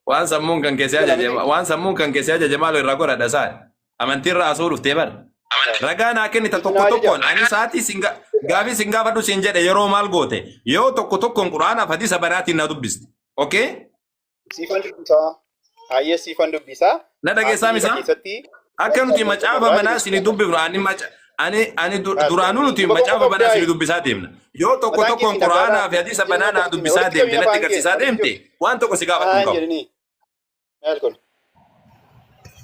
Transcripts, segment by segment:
Waan sammuun kan keessee Jala ajaje miti. waan sammuun kan keessee ajaje maaloo irraa godhadha isaan. Amantii irraa haasa'uu dhuftee bar. Ragaa naa kennitan tokko Isin tokkoon ajaja. ani sa'aatii sin ga- gaafii sin gaafadhu sin jedhe yeroo maal goote yoo tokko tokkoon quraanaaf hadiisa banaatiin na dubbiste. Okay? Siifan dubbisaa. Hayyee siifan dubbisaa. Na dhageessaa Haasofni misaa? keessatti Akka nuti macaafa banaa isin dubbifnu ani maca ani ani du- duraanuu nuti macaafa banaa isin dubbisaa deemna. Yoo tokko tokkoon quraanaa fi hadiisa banaa naa dubbisaa deemte natti agarsiisaa deemte waan tokko si gaafachuu hin qabu.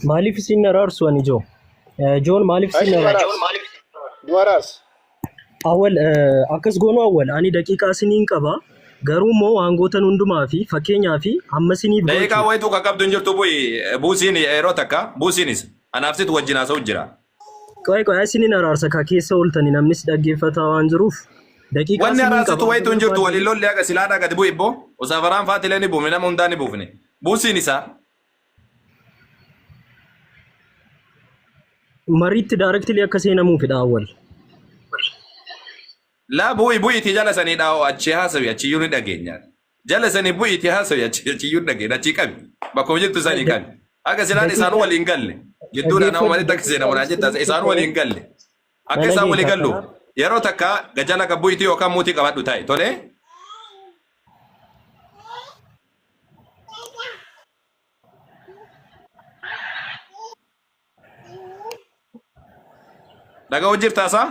Maaliif isin araarsu ani joo? Eh, Joon maaliif isin araarsu? Duwaraas. Awwal eh, akkas goonu awwal ani daqiiqaa siniin qaba garuu immoo waan gootan hundumaa fi fakkeenyaa fi amma siniif Daqiiqaa gochuuf wayituu kan qabdu hin jirtu bu'i buusiin yeroo takka buusiinis anaaf situ wajjin haasa'u jira. qo'ee qo'ee siniin araarsa ka keessa ooltani namnis dhaggeeffataa waan jiruuf daqiiqaa Wanni siniin qaba araarsitu wayituu hin jirtu waliin lolli haqa silaadhaa gadi bu'i ibboo osaafaraan faatilee ni buufne nama hundaa ni buufne buusiin isaa Mariitti daarektilii akka seenamuufidha awwal. Laa bu'i bu'iti jala sanii dhaa'oo achi haasawi achi iyyuu ni dhageenyaan. Jala sanii bu'iti haasawi achi achi iyyuu ni dhageenya achi qabi. Bakkuma jirtu sanii qabi. Akka silaan isaan Daqiiqaa waliin galle. Jidduudhaan amma walitti akka seenamu naan jettaa dhaggeeffadhu isaan waliin Awwal. galle. Na Akka isaan walii dhageeffadha. galluuf yeroo takka gajala kan bu'iti yookaan muutii qabadhu taa'e tolee. Dhaga'uu jirtaa isaa?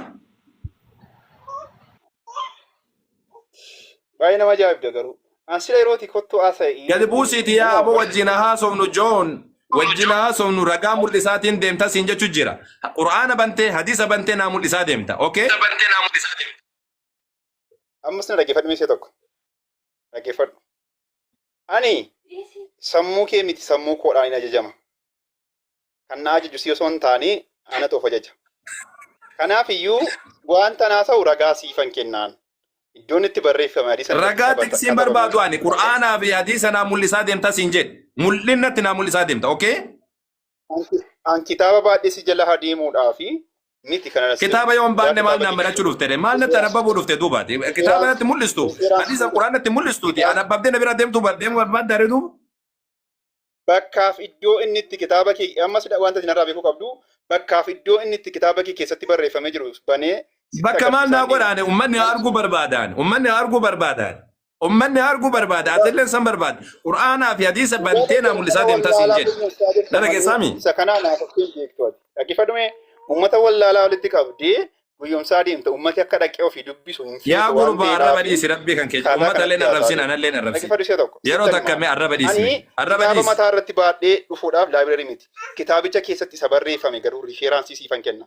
Baay'ee nama ajaa'ibda garuu. An sila yerooti kottu haasa'e. Gadi buusiiti yaa aboo wajjin haa haasofnu Joon. Wajjin haa haasofnu ragaa mul'isaatiin deemta siin jechuu jira. Qur'aana bantee hadiisa bantee naa mul'isaa deemta. Okay? Ammas na dhaggeeffadhu meeshaa tokko. dhaggeeffadhu. Ani sammuu kee miti sammuu koodhaan hin ajajama. Kan na ajaju si osoo hin taane anatu of ajaja. Kanaaf iyyuu wanta naa ta'u ragaa siifan kennaan. Iddoon itti barreeffame hadiisa irratti Ragaa sabata- tiksiin katabame. barbaadu ani Qur'aanaa fi hadiisa naa mul'isaa deemta siin jedhe. Mul'inatti naa mul'isaa deemta. Okay? Anki- An kitaaba baadhee si jala haa deemuudhaa fi miti kana na Kitaaba yoo hin baanne maal naan barachuu dhufte de? Maal natti anabbabuu dhufte duuba ati? Kitaaba natti mul'istu, hadiisa Qur'aan natti mul'istu ti. Anabbabdee na bira deemtu ba- deemuu barbaadda ree duuba? Bakkaaf iddoo inni itti kitaaba kee amma sida wanta isin irraa beekuu qabdu bakkaaf iddoo inni itti kitaaba kee keessatti barreeffamee jiru banee sitti Bakka maal agarsiisaa naa hin deemu. godhaane ummanni haa arguu barbaadaan. Ummanni haa arguu barbaadaan. Ummanni arguu barbaada, atilleen san barbaada. Qur'aanaa fi hadiisa bantee naa mul'isaa deemtaa siin jedhe. Dhala keessaami? Isa kanaa naaf ofiin beektu ati. Dhaggeeffadhume uummata wallaalaa walitti qabdee guyyomsaa deemta. Uummati akka dhaqee ofii dubbisu hin feetu Yaa waan gurbaa ta'eef arraba dhiisi rabbii kan keessa. kaataa Ummata illee kanatti arrabsiin haasa'aa anallee arrabsiin. Dhaggeeffadhu isa tokko. Yeroo Sitti takka himaa. mee arraba dhiisi. Ani Arraba kitaaba dhiisi. mataa irratti baadhee dhufuudhaaf laabireerii miti. Kitaabicha keessatti isa barreeffame garuu riifeeraansii siifan kenna.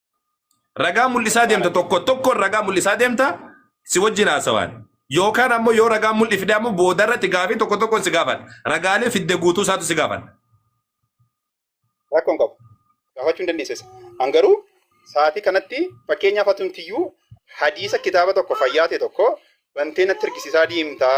Ragaa mul'isaa deemta tokko tokkoon ragaa mul'isaa deemta si wajjin haasawaan. Yookaan ammoo yoo ragaa mul'i fide ammoo boodarratti gaafii tokko tokkoon si gaafadha. Ragaalee fidde guutuu isaatu si gaafadha. Rakkoon qabu. Gaafachuu hin dandeessisa. An garuu sa'aatii kanatti fakkeenyaaf atumtiyyuu hadiisa kitaaba tokko fayyaa ta'e tokko bantee natti argisiisaa deemtaa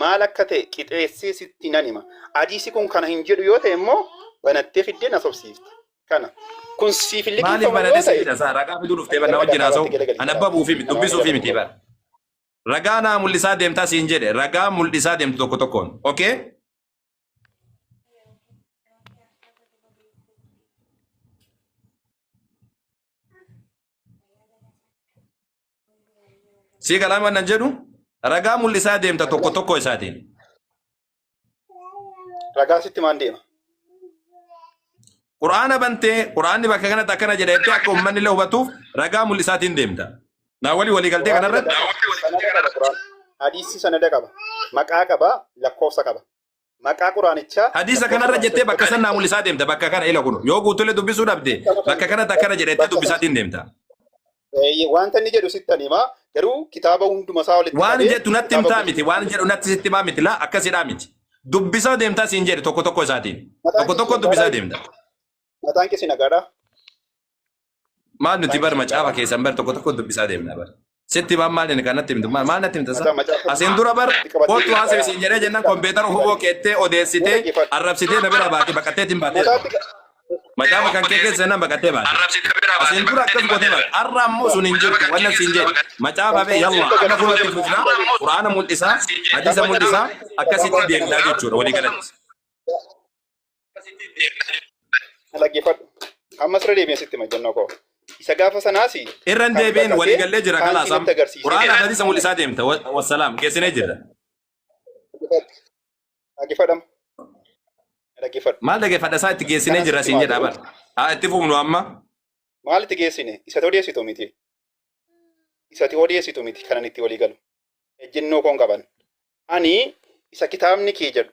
Maal akka ta'e qixeessee sitti nan hima. Hadiisi kun kana hin jedhu yoo ta'e immoo banattee fiddee na sobsiifta. Kana. Kun siif hin Maaliif liqimfamu banatee yoo si ta'e fida saa ragaa fiduu dhuftee bar na wajjin haasa'u an abbabuufii miti dubbisuufii miti bar. Ragaa naa mul'isaa deemtaa siin jedhe ragaa mul'isaa deemtu tokko tokkoon. Okay? Sii galaan waan nan jedhu ragaa mul'isaa deemta tokko tokko isaatiin. Ragaan sitti maan deema? Quraana bantee quraanni bakka kanatti akkana jedha jettee akka uummanni illee hubatuuf ragaa mul'isaatiin deemta. Naa walii walii galtee kanarratti Sanada qaba Quraan. Hadiisni sanada qaba. Maqaa qaba, lakkoofsa qaba. maqaa quraanichaa Hadiisa kanarra jettee bakka san naa mul'isaa deemta bakka kana ila kunu yoo guutulle dubbisuu dhabde bakka kanatti akkana jedhettee dubbisaatiin deemta. Eeyyee, wanta inni jedhu sittan himaa garuu kitaaba hunduma isaa walitti Waan qabee jettu natti kitaaba himtaa miti waan jedhu natti sitti himaa miti laa akkasidhaa miti. Dubbisaa deemtaa siin jedhe tokko tokko isaatiin. Mataa Tokko kee tokko dubbisaa deemta. Mataan kee si nagaadha. Maal nuti bar macaafa keessan bar tokko tokko dubbisaa deemna bar. Sitti maal maal inni kanatti himtu maal maal natti himta isaa? Asiin dura bar kootu haasa'e siin jedhee jennaan kompiitara huboo keettee odeessitee arrabsitee na bira baate baqattee ittiin baatee. Macaafa kan kee keessa jennaan baqattee baate. Asiin dura akkas gootee baate. Har'a ammoo sun hin jirtu wanna siin jedhe. Macaafa bee yalla akka fuulatti fufnaa quraana mul'isaa hadiisa mul'isaa akkasitti deemnaa jechuudha walii galatti. Dhaggeeffadhu. Ammas irra deebiin sitti majjannoo koo. Isa gaafa sanaas irra hin deebiin walii gallee jira kalaas am quraana hadiisa mul'isaa deemta Wa- wassalaam geessinee jirra Dhaggeeffadhama. Dhaggeeffadhu. maal dhaggeeffadha isaa itti geessinee Kanas jirra itti siin maa jedha jedhu. bar haa itti fufnu amma Maal itti geessine? Isati odeessitu miti. Isati odeessitu miti kanan itti walii galu. Ejjennoo koon qaban. Ani isa kitaabni kee jedhu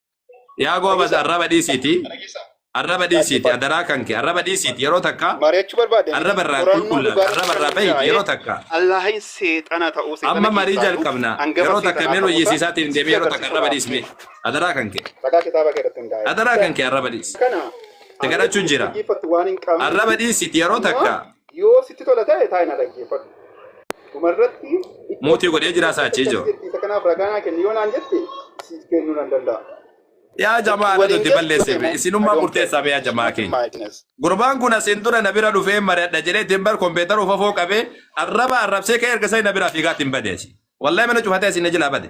Yaa goobas arraba dhiisiiti. Arraba dhiisiiti adaraa kan kee arraba dhiisiiti yeroo takka mari'achuu barbaadde arraba irraa qulqullaa'e arraba irraa bahiiti yeroo takka. Allahin seexana ta'uu seexana Amma marii jalqabna yeroo takka mee loyyisiisaatiin deemee yeroo takka arraba dhiisi mee adaraa kan kee. Ragaa kitaaba kee irratti hundaa'e. Adaraa kan kee arraba dhiisi. Kana Te kadhachuun jira. dhaggeeffattu waan hin qabne Arraba dhiisiiti yeroo takka. Yoo sitti tola ta'e taa'ina dhaggeeffadhu. Dhuma irratti iddoo Muutii godhee jiraa isaa achii jiru. jetti isa kanaaf ragaa naa kenni yoo naan jette siif kennuu nan danda'a. Yaa jamaa anatu itti balleesse be. Isinummaa murteessaa be yaa jamaa keenya. Gurbaan kun asiin dura na bira dhufee mari'adha jedhee ittiin bar kompiitara ufafoo qabee arraba arrabsee ka'ee erga sani na biraa fiigaa ittiin bade asi. Wallahi mana cufatee asiin na jilaa bade.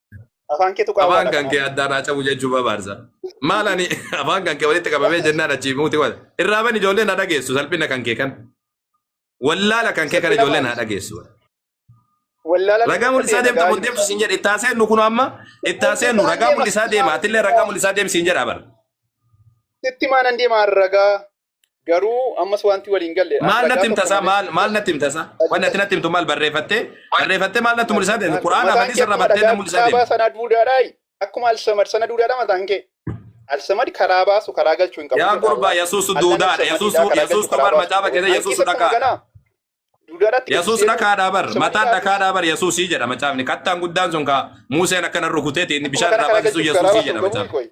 Afaan keetu qaawwaa Afaan kan kee addaan haa cabu jechuu barbaadsa. Maal ani afaan kan kee walitti qabamee jennaan achii muuti wal. Irraa bani ijoolleen haa dhageessu salphina kan kee kan. Wallaala kan kee kan ijoolleen haa dhageessu. Wallaala Ragaa mul'isaa deemta kun deemtu siin jedhe ittaa seennu kun amma ittaa seennu ragaa mul'isaa deema atillee ragaa mul'isaa deem siin jedha bara. Sitti maanan deemaa ragaa. Garuu ammas wanti wal hin galle. Maal natti himta isaa? Maal maal natti himta isaa? Wanni ati natti himtu maal barreeffattee? Barreeffattee maal natti mul'isaa deemte? Quraana hadiis irra battee na mul'isaa deemte. Sana duudaadhaa akkuma alsamad sana duudaadhaa mataan kee. Alsamad karaa baasu karaa galchuu hin qabu. Yaa gurbaa Yesuusu duudaadha. Yesuusu Yesuus bar macaafa keessa Yesuusu dhaqaadha. Yesuus dhaqaadha bar mataan dhaqaadha bar Yesuusii jedha macaafni. Kattaan guddaan sun kaa Muuseen akkana rukuteeti inni bishaan irraa baasisu Yesuusii jedha macaafni.